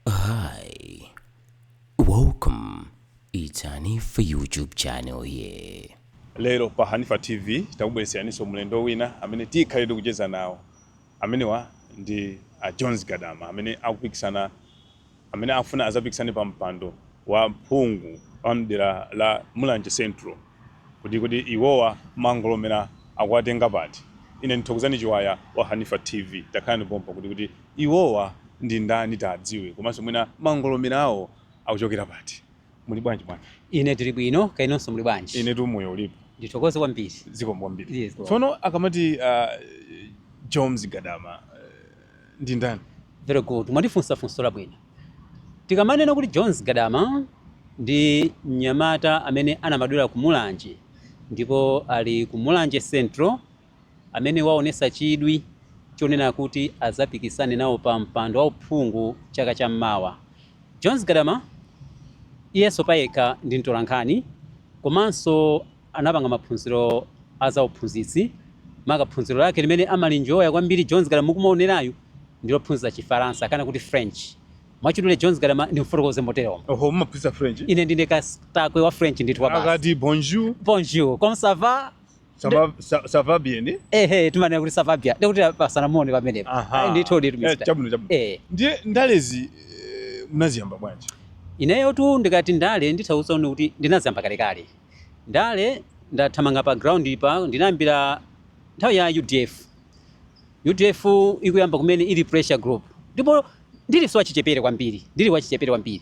Hi, welcome. It's Hanifa YouTube channel here. Lero pa Hanifa TV takubweretseraniso mlendo wina amene tikhalire kucheza nawo. Amenewa ndi a Jones Gadama amene akupikisana amene afuna azapikisane pa mpando wa mphungu wa mdera la Mulanje Central kuti kuti iwowa mangolomera akuwatenga pati. Ine ndi Thokozani Chiwaya wa Hanifa TV takhala nawo pompa kuti kuti Iwowa ndi ndani tiadziwe komanso mwina mangolomera awo akuchokera pati? Muli bwanji bwana? Ine tili bwino kaya inunso muli bwanji? Inetu moyo ulipo. Ndithokoze kwambiri. Zikomo kwambiri. Zikomo. Tsono akamati Jones Gadama ndi ndani? Very good. Mwandifunsa funso labwino. Tikamanena kuti Jones Gadama ndi mnyamata amene anabadwira ku Mulanje ndipo ali ku Mulanje Central amene waonesa chidwi chonena kuti azapikisane nawo pa mpando wa uphungu chaka cha mmawa. Jones Gadama iyenso payekha ndi mtolankhani komanso anapanga maphunziro a za uphunzitsi maka phunziro lake limene amalinjoya kwambiri Jones Gadama mukumaonerayu ndi lophunzitsa chifaransa kana kuti French. Mwachidule Jones Gadama ndimfotokoze moteromo. Oho, mumaphunzitsa French? Ine ndine katakwe wa French ndithu kwabasi. Akati bonjour. Bonjour, comment ça va? ça va bien ehe timanena kuti ça va bien ndikuti kupatsana moni pamenepo Aha. ndithu ndithu Eh, Mr. chabwino chabwino Eh, ndiye ndalezi eh, munaziyamba bwanji ineyotu ndikati ndale ndikutanthauza kuti ndinaziyamba kalekale ndale ndathamanga pa ground pa ndinayambira nthawi ya udf udf ikuyamba kumene ili pressure group ndipo ndili wachichepere kwambiri ndili wachichepere kwambiri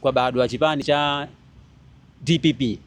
kwabadwa chipani cha dpp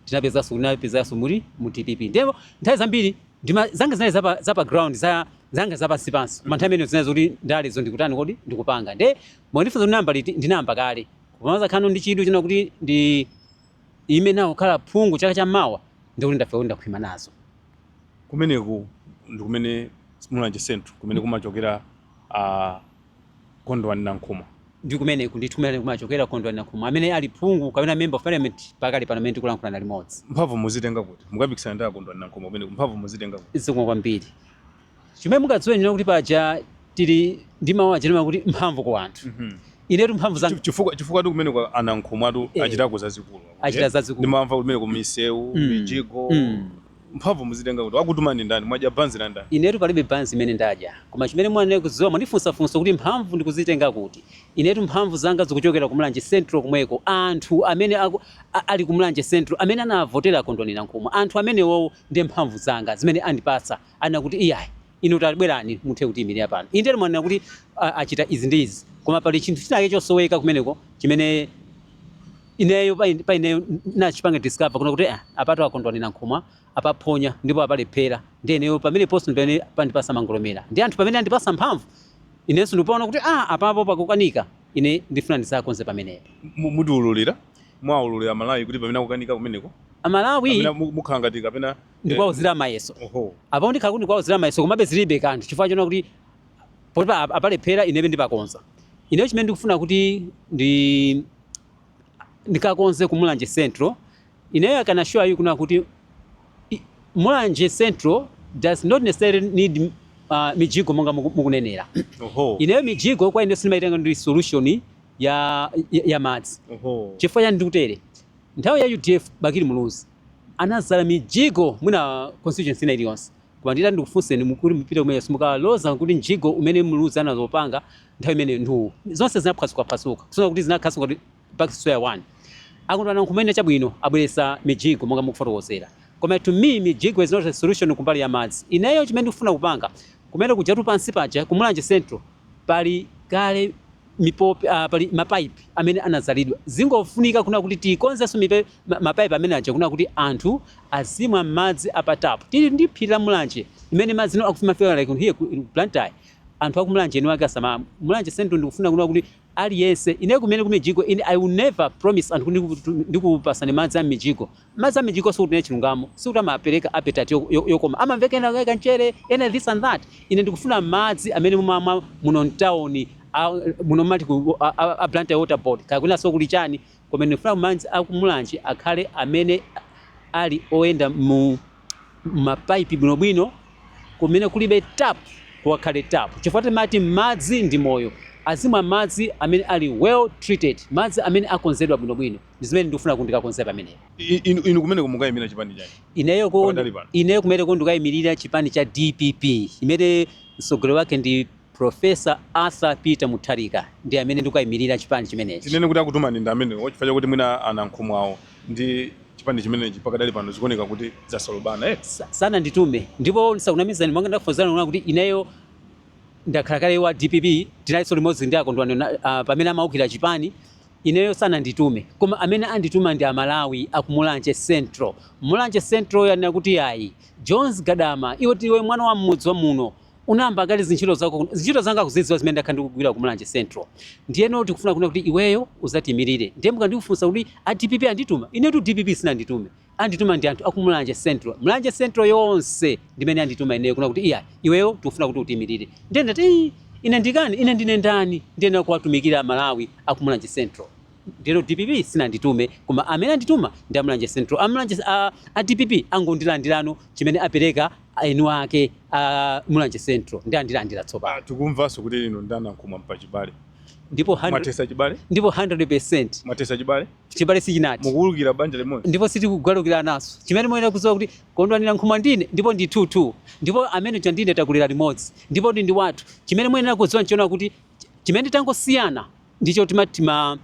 tinapezanso tinapezanso tili mu dpp ndipo nthawi zambiri ndima zanga zinali zapa, zapa ground za zanga zapansi pansi koma nthawi imene zinali zoti ndalezo ndikutani kodi ndikupanga nde mwandifunsa kuti ndinayamba liti ndinayamba kale koma mazakhano ndi chidwi chonena kuti ndiime nawo kukhala phungu chaka cha mmawa ndikuti ndafe kuti ndakhwima nazo kumeneku ndi kumene mulanje central kumene kumachokera uh, Kondwani Nankhumwa. Ndi kumeneku ndithu kumene kumachokera Kondwani Nankhumwa, amene ali phungu kapena Member of Parliament pakali pano pamene tikulankhulana limodzi. Mphamvu muzitenga kuti? Mukapikisana ndi a Kondwani Nankhumwa kumeneko, mphamvu muzitenga kuti? Zikomo kwambiri. Chimene mungadziwe ndi choti kuti paja tili ndi mawu aja timati kuti mphamvu ku anthu. Inetu mphamvu zanga. Chifukwa chifukwatu kumeneko a Nankhumwatu achitako zazikulu. Achita zazikulu. Ndimamva kuti kumeneko misewu, mijigo. Mphamvu muzitenga kuti? Wakutumani ndani? Mwadya banzi la ndani? Inetu palibe banzi imene ndadya. Koma chimene mumayenera kudziwa mwandifunsa funso kuti mphamvu ndikuzitenga kuti? Inetu mphamvu zanga zikuchokera ku Mulanje Central komweko. Anthu amene aku a ali ku Mulanje Central amene anavotera Kondwani Nankhumwa. Anthu amenewowo ndi mphamvu zanga zimene andipatsa. Anena kuti iyayi. Inu tabwerani muthe kutiyimirira pano. Indetu mwanena kuti a, achita izi ndi izi, koma pali chinthu china chake chosoweka kumeneko chimene ineyo pa ine- pa ineyo nachipanga discover kuna kuti ah, apatu a Kondwani Nankhumwa apaphonya ndipo apalephera nde ineyo pamene post pamene pandipasa mangolomera ndi anthu pamene andipasa mphamvu inenso ndikupaona kuti ah, apapo pakukanika ine ndifuna ndizakonze pamenepo Mu- mutiululira muwaululira aMalawi kuti pamene akukanika kumeneko amalawi amene mu- mukhala ngati kapena ndikuwauzira mayeso Oho. apo ndikhala kuti ndikuwauzira mayeso komabe zilibe kanthu chifukwa choona kuti poti pa- apalephera inebe ndipakonza ineyo chimene ndikufuna kuti ndi ndikakonze ku Mulanje Central ineyo I can assure you kuna kuti i- Mulanje Central does not necessarily need uh, mijigo monga muku- mukunenera Oho. ineyo mijigo kwa ine sindimaitenga ndi solution ya, ya, ya madzi Oho. chifukwa chani ndikutere nthawi ya UDF Bakili Muluzi anadzala mijigo mwina constituency ina iliyonse koma nditati ndikufunseni kuti mupite kumene simukaloza kuti mjigo umene Muluzi anazopanga nthawi imene ndi uwu zonse zinaphwasukaphwasuka kusona kuti zinakhalaso ngati back to square one a Kondwani Nankhumwa chabwino abweresa mijigo monga mukufotokozera koma to me mijigo is not a solution kumbali ya madzi ineyo chimene ndikufuna kupanga kumene kujatu pansi paja ku Mulanje Central Pali kale mipopi uh, pali mapaipi amene anadzalidwa zingofunika kuna kuti tikonzenso mapaipi amene aja kuna kuti anthu azimwa madzi a pa tap tili ndi phiri la Mulanje imene madzi no akufi- akufika like here ku Blantyre anthu aku Mulanje eni wake asama Mulanje Central ndikufuna kuna kuti aliyense ine kumene kumijigo ine I will never promise anthu kuti ndikupasani madzi a mijigo Madzi a m'mijigo sikuti chilungamo, sikuti amapereka appetite yokoma, amamveka ena ka kamchere, ena this and that. Ine ndikufuna madzi amene mumamwa muno mtauni, a muno mumati ku a, a Blantyre Water Board, kaya kwinanso kuli chani, koma ine ndikufuna madzi a ku Mulanje akhale amene ali oyenda mu mapaipi bwinobwino, kumene kulibe tap kukakhale tap, chifukwa timati madzi ndi moyo. Azimwa madzi amene ali well treated, madzi amene akonzedwa bwinobwino. ndi zimene ndikufuna kuti ndikakonze pamenepo. I- i- Inu, inu kumeneko mukayimira chipani chani? Ineyo ko Pakadali pano. ineyo kumeneko ndikayimirira chipani cha DPP imene mtsogoleri wake ndi Professor Arthur Peter Mutharika ndi amene ndikukayimirira chipani chimenechi. Tinene kuti akutumani ndi amenewo chifukwa chakuti mwina a Nankhumwawo ndi chipani chimenechi pakadali pano zikuoneka kuti zasolobana eh? Sa- sananditume ndipo ndisakunamizeni monga ndakuuzani kuna kuti ineyo ndakhala kale wa DPP tinalinso limodzi ndi a Kondwani Na- ah, pamene amaukira chipani Ineyo sananditume koma amene andituma ndi a Malawi aku Mulanje Central. Mulanje Central yanena kuti yayi. Jones Gadama iwe ndiwe mwana wa mmudzi wa muno. Unayamba kale zintchito zako kuno. Zintchito zanga akuzidziwa zimene ndakhala ndikugwira ku Mulanje Central. Ndiyeno tikufuna kunena kuti iweyo uzatiimirire. Ndiye mukandikufunsa kuti a DPP andituma? Inetu DPP sinanditume. Andituma ndi anthu aku Mulanje Central. Mulanje Central yonse ndi imene andituma ineyo kuna kuti iyayi iweyo tikufuna kuti utiimilire. Ndiye ndati "Ii, ine ndikani ine ndine ndani ndiyenera kuwatumikira Malawi aku Mulanje Central. Ndiyeno dpp sinanditume koma amene andituma ndi a Mulanje Central. A Mulanje a, a dpp angondilandirano chimene apereka eni ake a Mulanje Central ndi andilandira tsopano. Ah, tikumvanso kuti inu ndi a Nankhumwa mpachibale Ndipo 100% mwathetsa chibale ndipo 100% mwathesa chibale Chibale sichinathe. Mukugalukira banja limodzi. Ndipo sitikugalukirananso. Chimene muyenera kudziwa kuti Kondwani Nankhumwa ndine ndipo ndi thuthu. Ndipo amene uja ndine takulira limodzi. Ndipo ndi ndi wathu. Chimene muyenera kudziwa nchonena kuti chimene tangosiyana ndicho timati tima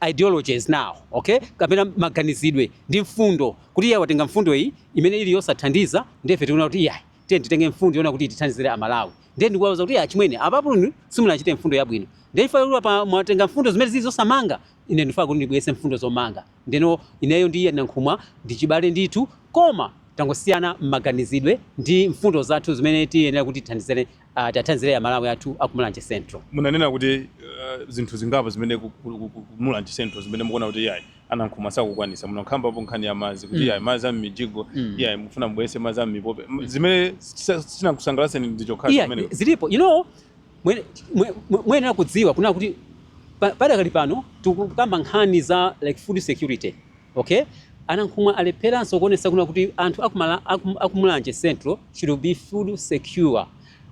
ideologies now, okay? Kapena maganizidwe ndi mfundo. Kuti iye watenga mfundo iyi imene ili yosathandiza ndiye ife tikuona kuti iyayi tiye titenge mfundo yona kuti tithandizire Amalawi. Ndiye ndikuwauza kuti achimwene apapo inu simunachite mfundo yabwino. Ndiye chifukwa choti apa mwatenga mfundo zimene zili zosamanga Ine ndifuna kuti ndibweretse mfundo zomanga. Ndeno ineyo ndi iye Nankhumwa ndi chibale ndithu koma tangosiyana mmaganizidwe ndi mfundo zathu zimene tiyenera kuti tithandizane ah, tiathandizire a Malawi athu aku Mulanje Central. munanena kuti eh, zinthu zingapo zimene ku- ku- ku- ku- ku Mulanje Central zimene mukuona kuti iyayi a Nankhumwa sakukwanisa munakhambapo nkhani ya madzi kuti Mm. iyayi madzi a m'mijigo Mm. iyayi mufuna mubweretse madzi a m'mipope M- zimene sizinakusangalatseni ndi chokhacho Iya, zimenezo zilipo. You know, Muyenera kudziwa kunena kuti padakali pano tikukamba nkhani za like food security okay. A Nankhumwa alepheranso kuonetsa kunena kuti anthu aku Mulanje Central should be food secure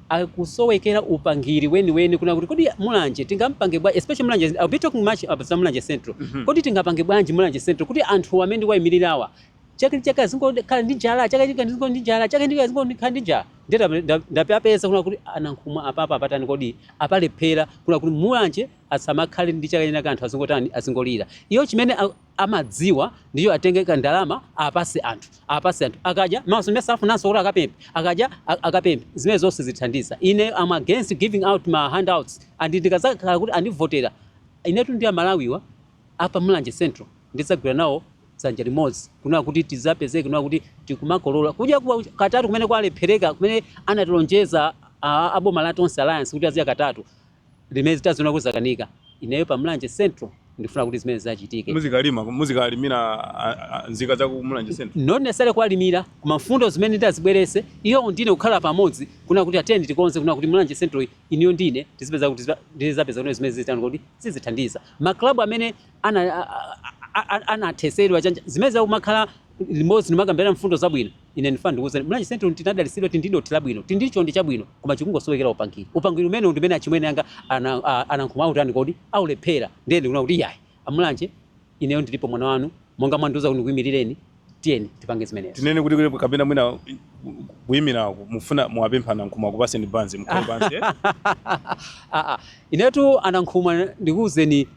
akusowekera upangiri weniweni kuna kuti kodi Mulanje tingampange bwa especially Mulanje I'll be talking much about Mulanje Central mm -hmm. kodi tingapange bwanji Mulanje Central kuti anthu amene ndiwaimirirawa chaka ndi chaka azingokhala ndi njala chaka chaka azingokhala ndi njala chaka ndi chaka azingokhala ndi njala ndiye ndap- ndap- ndapapeza kuna kuti a Nankhumwa apapa apatani kodi apalephera kuna kuti Mulanje asamakhale ndi chakudya china anthu azingotani azingolira iyo chimene a- amadziwa ndiyo atenge ka ndalama apatse anthu apatse anthu akadya m'masomo afunanso kuti akapempe akadya a- akapempe zimene zomwe sizithandiza ine I'm against giving out ma handouts and ndikazakhala kuti andivotera inetu ndi Amalawiwa a pa Mulanje Central ndidzagwira nawo dzanja limodzi kunena kuti tidzapezeke kunena kuti tikumakolola kudya kwa katatu kumene kwalephereka kumene anatilonjeza a, a boma la Tonse Alliance kuti azidya katatu limene taziona kuti zakanika. Ineyo pa Mulanje Central ndifuna kuti zimene zidzachitike. muzikalima muzikalimira a- a- nzika za ku Mulanje Central not necessarily kuwalimira koma mfundo zimene ndizabweretse iyo ndine kukhala pamodzi kuna kuti tiyeni tikonze kuna kuti Mulanje Central ino iyo ndi ine tizipeza kuti tiza- ndizapeza kuti zimene zitani kuti zizithandiza ma club amene ana anathetsedwa chani zimene tizakumakhala limodzi ndikumakambirana mfundo zabwino ine ndifuna ndikuwuzeni Mulanje Central tinadalitsidwa tili ndi dothi labwino tili ndi chonde chabwino koma chikungosowekera upangiri upangiri umenewu ndi umene achimwene anga ana- a- a Nankhumwa autani kodi aulephera ndiye ndikuona kuti yayi a Mulanje ineyo ndilipo mwana wanu monga mwandiuza kuti ndikuyimirireni Tiyeni tipange zimenezo. Tinene kuti kuli kapena mwina kuyimira ku- mufuna muwapempha nankhumwa akupaseni banzi mukhale pansi eh? Ah, ah. Inetu a Nankhumwa ndikuwuzeni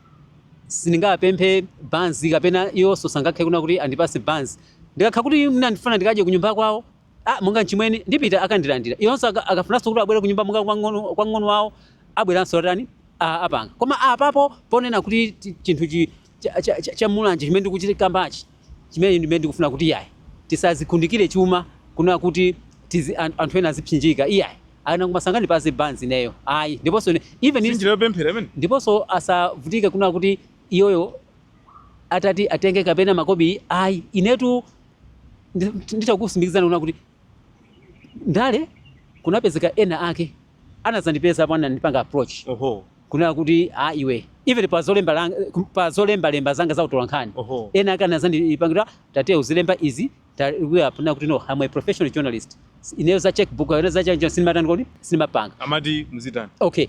sindingapemphe banzi kapena iwonso sangakhale kuna kuti andipase banzi ndikakhala kuti mwina ndifuna ndikadye kunyumba kwawo ah, monga mchimwene ndipita akandilandira iwonso aka- akafunanso kuti abwere kunyumba monga kwa mng'ono- kwa mng'ono wawo abweranso atani ah, apanga koma apapo ponena kuti ti- chinthu chi- cha, cha, cha, cha Mulanje chimene ndikuchikambachi chimene ndimene ndikufuna kuti iyayi tisadzikundikire chuma kunena kuti tizi, an- anthu ena azipsinjika iyayi a Nankhumwa sangandipatse banzi ineyo ayi ndiponso ne- even if- sinjira yopemphera imene ndiponso asavutike kunena kuti iyoyo atati atenge kapena makobili ayi inetu ndi- nditakutsimikizirani kunena kuti ndale kunapezeka ena ake anazandipeza apo anandipanga approach oho kunena kuti a ah, iwe even pa zolemba pa zolemba lemba zanga za utolankhani ena ake anazandipangira tate uzilemba izi ine kuti no I'm a professional journalist ineyo za checkbook ineyo za chanjo sindimatani kodi sindimapanga amati muzitani okay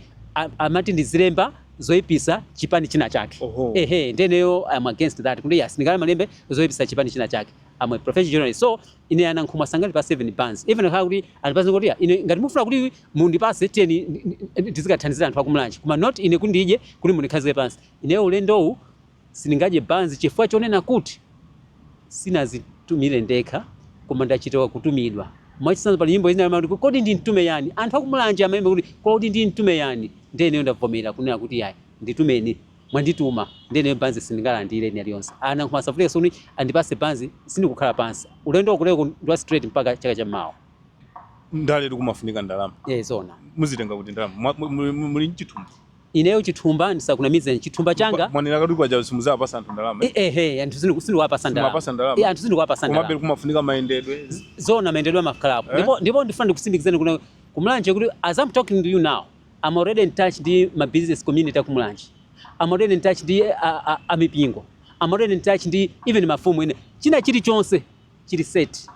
amati ndizilemba zoipisa chipani china chake ehe nde ineyo I'm against that kuti ine sindingamalembe zoipisa chipani china chake I'm a professional journalist so Ine a Nankhumwa sangandipase even banzi. Even akhala kuti andipase ngoti ya ine ngati mufuna kuti mundipase tiyeni tizikathandizira anthu aku Mulanje. Koma not ine kuti ndidye kuti mundikhazike pansi. Ineyo ulendowu sindingadye banzi chifukwa chonena kuti sindinazitume ndekha koma ndachita kutumidwa. Mwachitsanzo pali nyimbo ina imati kodi nditume yani? Anthu aku Mulanje amayimba kuti kodi nditume yani? Ndiye ineyo ndavomera kunena kuti yayi nditumeni. mwandituma ndiye ineyo banzi sindingalandile ndi aliyense a Nankhumwa asavutike zoti andipase banzi sindikukhala pansi ulendo uno ndi wa straight mpaka chaka cha mawa ndale kumafunika ndalama eh zona muzitenga kuti ndalama Mwa- mu- mu- mu- muli mchithumba ineyo chithumba ndisakunamize chithumba changa mwanena kuti kwaja simuzawapasa anthu ndalama eh? eh eh anthu simu simuwapasa ndalama Simapasa ndalama. eh anthu simuwapasa ndalama komabe kumafunika mayendedwe zona mayendedwe amakhalapo Eh? ndipo ndipo ndifuna ndikutsimikizireni kuna ku Mulanje kuti as i'm talking to you now am already in touch ndi ma business community aku Mulanje am already in touch ndi amipingo am already in touch ndi even mafumu ine china chili chonse chili set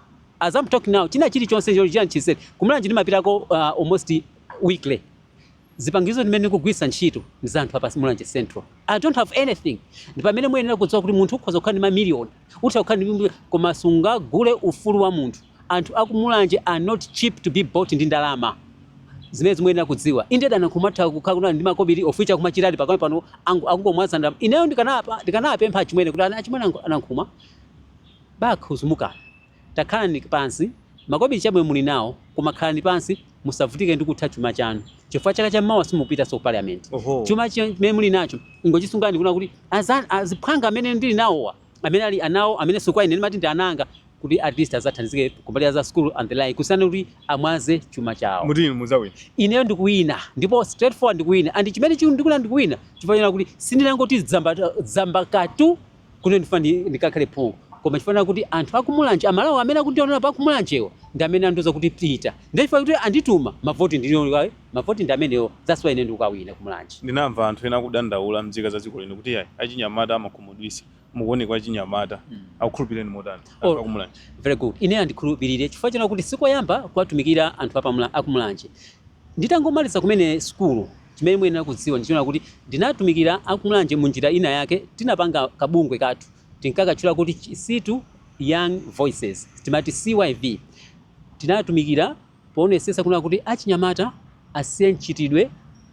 as I'm talking now china chili chonse chili chili set ku Mulanje ndimapitako uh, almost weekly zipangizo zimene ndikugwiritsa ntchito ndi za anthu a pa Mulanje Central I don't have anything ndi pamene muyenera kudziwa kuti munthu ukhoza kukhala ndi ma million Utha kukhala ndi nyumba koma sungagule ufulu wa munthu. Anthu aku Mulanje are not cheap to be bought ndi ndalama. Zimenezo muyenera kudziwa. Indedi a Nankhumwa atha kukhala kuti ali ndi makobili of which akumachitadi pakali pano angu- akungomwaza ndalama. Ineyo ndikanapa- ndikanawapempha achimwene kuti "Ana- achimwene angu- a Nankhumwa bakhuzumukani takhalani pansi makobili chabwino muli nawo koma khalani pansi musavutike ndi kutha chuma chanu chifukwa chaka chammawa simupitanso ku parliament Oho. chuma chimene muli nacho ingochisunga ndikuna kuti aza- aziphwanga amene ndili nawowa amene ali anawo amene sikwa ine ndimati ndi ana anga kuti at least azathandizike kumbali za school and the like kusiyana kuti amwaze chuma chawo muti inu mudzawina ineyo ndikuwina ndipo straightforward ndikuwina and chimene chiku- ndikuna ndikuwina chifukwa china kuti sindinangoti dzamba dzamba katu kuno ndifuna ndi- ndikakhale phungu koma chifana kuti anthu akumulanje amalawo amene akundionera pa kumulanjewo ndi amene andiuza kuti pita ndiye chifukwa kuti andituma mavoti ndinioa mavoti ndi amenewo that's why ine ndikukawina kumulanje ndinamva anthu ena akudandaula mdzika za dziko lino kuti ayi achinyamata amakhumudwisa mukuoneka achinyamata akukhulupireni motani Oh. anthu akumulanje very good ine andikhulupirire chifukwa china kuti sikoyamba kuwatumikira anthu apamula- akumulanje nditangomaliza kumene sukulu Chimene muyenera kudziwa ndi chona kuti ndinatumikira aku Mulanje munjira ina yake tinapanga ka bungwe kathu tinkakatchula kuti Chisitu Young Voices timati CYV tinatumikira powonesesa kunena kuti achinyamata asiye mchitidwe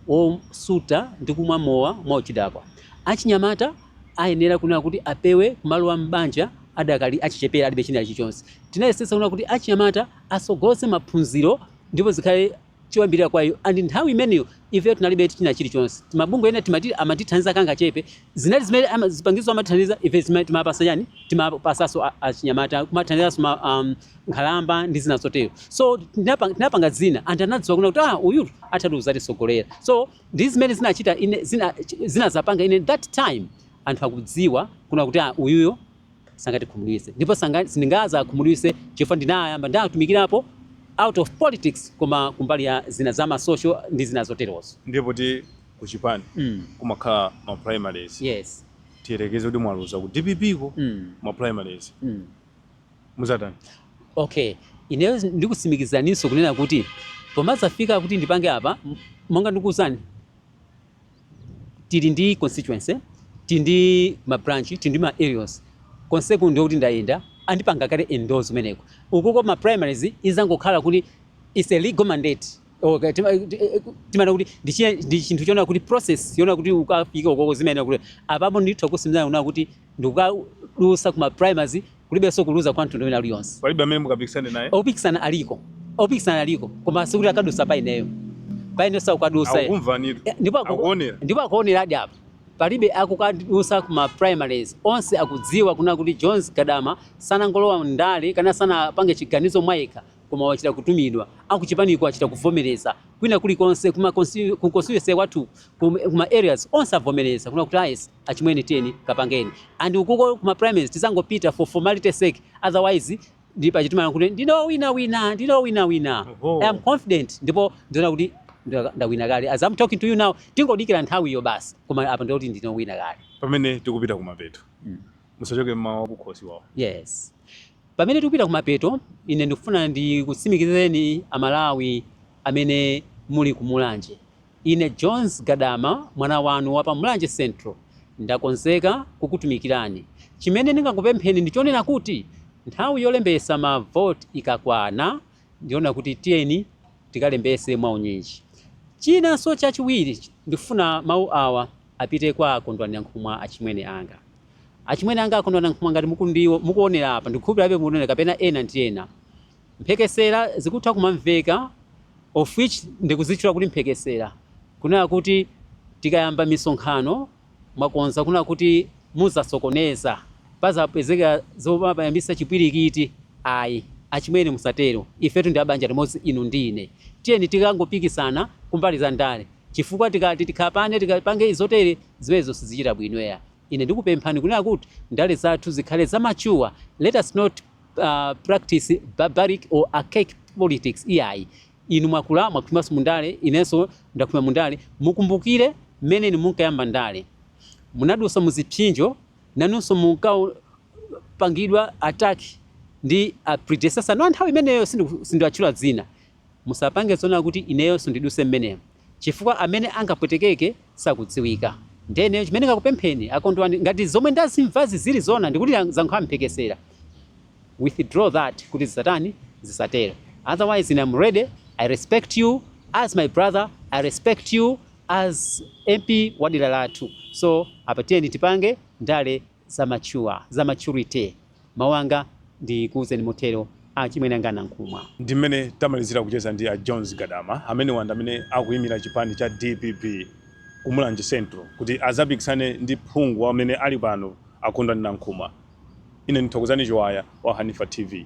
wosuta ndi kumwa mowa mwa uchidakwa achinyamata ayenera kunena kuti apewe kumalowa m'banja adakali achichepere alibe china chilichonse tinayesetsa kunena kuti achinyamata asogoletse maphunziro ndipo zikhale choyambirira kwa iyo and nthawi imeneyo ifeyo tinalibe china chilichonse mabungwe ena timati amatithandiza kangachepe zinali zimene ama- zipangizo amatithandiza ife zima- timapasa yani timapasaso a- achinyamata kumathandizanso ma- um, nkhalamba ndi zina zotero so tinapanga, tinapanga zina anthu anadziwa kuna kuti ah, uyu atha kuzatisogolera so ndi zimene zinachita ine zina, zina zapanga ine that time anthu akudziwa kuna kuti ah, uyuyo sangatikhumudwitse ndipo sanga- sindingazawakhumudwitse chifukwa ndinayamba ndatumikirapo out of politics koma kumbali ya zina za masocial ndi zina zoterozo ndiye poti ku chipani mm. kumakhala ma primaries yes tiyerekeze kuti mwaluza ku dpp ko mm. ma primaries Mm. muzatani okay ineyo ndikusimikizireninso kunena kuti pomazafika kuti ndipange apa m- monga ndikuwuzani tili ndi constituency tili ndi ma branch tili ndi ma areas konseko ndiye kuti ndayenda andipanga kale endorse kumeneko ukuko ma primaries izangokhala kuti it's a legal mandate okay timana kuti ndi chinthu chona kuti process yona kuti ukafike ukoko zimayenera kuti apapo ndithu kusimikizana kuna kuti ndikukadusa ku ma primaries kulibenso kuluza kwa mtundu wina ulionse. Palibe amene mukapikisane naye. Opikisana aliko. Opikisana aliko. Koma sikuti akadusa pa ineyo. Pa ineyo sakukadusa. Akumvanira. Eh, ndipo akuonera. Ndipo akuonera hadi apa. Palibe akukadusa ku ma primaries. Onse akudziwa kuna kuti Jones Gadama sanangolowa ndale kaya sanapange chiganizo mwayekha koma wachita kutumidwa akuchipaniko achita kuvomereza kwina kulikonse ku constituency wathu kuma areas onse avomereza kuna kuti ayesi ah, Achimwene tiyeni kapangeni and ukuko kuma primaries tizangopita for formality sake otherwise ndi paja timanena kuti ndine owina wina ndine owina wina Oho. I am confident ndipo ndiona kuti nda- ndawina kale as I'm talking to you now tingodikira nthawi iyo basi koma apa ndikuti ndine owina kale pamene tikupita kumapeto Mm. musachoke mawu akukhosi awo yes pamene tikupita kumapeto ine ndikufuna ndikutsimikizireni amalawi amene muli ku Mulanje. Ine Jones Gadama mwana wanu wa pa Mulanje Central ndakonzeka kukutumikirani. Chimene ndingakupempheni ndi chonena kuti nthawi yolembesa ma vote ikakwana ndi chonena kuti tiyeni tikalembese mwa unyinji. Chinanso chachiwiri ndikufuna mau awa apite kwa a Kondwani Nankhumwa achimwene anga. Achimwene anga a Kondwani Nankhumwa ngati mukuonera apa ndikukhulupirirabe mukuonera kapena ena ndi ena. Mphekesera zikutha kumamveka of which ndikuzitchula kuti mphekesera kunena kuti tikayamba misonkhano mwakonza kunena kuti muzasokoneza pazapezeka zoyambisa chipwirikiti ayi achimwene musatero ifetu ndi abanja limodzi inu ndi ine tiyeni tikangopikisana kumbali za ndale chifukwa tikati tikhapane tikapange zotere zimenezo sizichita bwino eya. Ine ndikupemphani kunena kuti ndale zathu zikhale za mature, let us not practice barbaric or archaic politics iyayi. Inu mwakula mwakhwimanso mu ndale, inenso ndakhwima mu ndale, mukumbukire mmene inu munkayamba ndale. Munadusa mu zipsinjo, nanunso munkapangidwa attack ndi a predecessor anu a nthawi imeneyo, sindiwatchula dzina. Musapange zonena kuti ineyonso ndiduse mmenemo. chifukwa amene angapwetekeke sakudziwika nde ineyo chimene ndingakupempheni a Kondwani ngati zomwe ndazimvazi zili zoona ndikuti zakhala mphekesera withdraw that kuti zisatani zisatero otherwise ine am ready I respect you as my brother I respect you as MP wadera lathu so apa tiyeni tipange ndale za maturity. Mawu anga, ndikuuzeni motero, a achimwene anga a Nankhumwa. Ndi mmene tamalizira kucheza ndi a Jones Gadama. Amenewa ndi amene akuimira chipani cha dpp ku Mulanje Central kuti adzapikisane ndi phungu amene ali pano a Kondwani Nankhumwa. Ine ndi Thokozani Chiwaya wa Hanifa TV.